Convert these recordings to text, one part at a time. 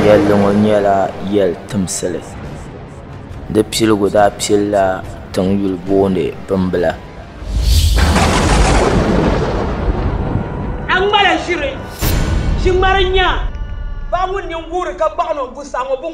Yɛlli ŋɔ nyɛla yɛli timsili di piligu daa pilila tiŋ yuli booni bimbila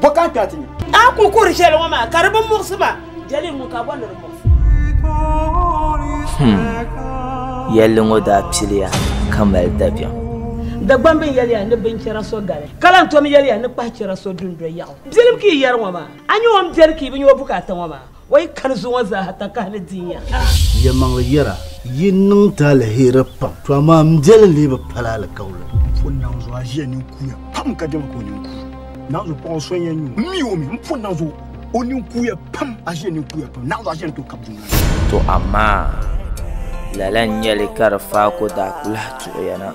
Bɔka ka ti nya. A ku kuri shɛli ŋɔ maa ka di bi muɣisi ma, jɛli ŋun ka bɔ ni di muɣisi. Him, yɛlli ŋɔ daa piliya ka mali dabiɛm. Dagbam bini yɛli ya ni binchɛra so gali, ka lan tom yɛli ya ni kpahichɛra so dundoli yaɣu. Biɛlim ka yi yɛri ŋɔ maa, a nya o ni biɛri ka yi bi nya o bukaata ŋɔ maa. O yi kani zuŋɔ zaaha takahi ni di ya. Yɛlimaŋli yɛra, Yi niŋ ti aliheri pam, to amaa m biɛli lee bi pali alikauli. Pun naŋ zuɣu aʒiya nini kuuya pam ka dɛma ka o nini kuui. Naŋ zuɣu paɣa so n-yɛn nyu m mi o mi. M pun naŋ zuɣu o nini kuuya pam, aʒiya nini kuuya pam, naŋ zuɣu aʒiya ni tooi kabi dundoli ni. To amaa lala n-nyɛli ka di faako daa kuli lahi tuɣiya na,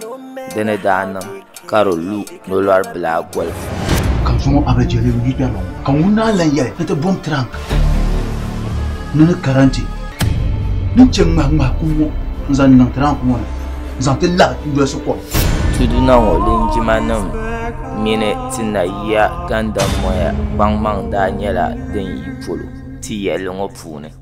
di ni daa niŋ. ka di lu nolɔri bila golifu. Ka zuŋɔ a bi jeli n yi kpɛri ba ŋɔ, ka ŋun naan lan yɛli ni ti bom tirank ni ni karanti din che ŋmahi ŋmahi kum ŋɔ n zaŋ niŋ tirank ŋɔ ni n zaŋ ti labi n dolsi kom. Tuduna ŋɔ linjima nim mini ti na yiya gandamoya kpaŋmaŋ daa nyɛla din yi polo ti yɛli ŋɔ puuni.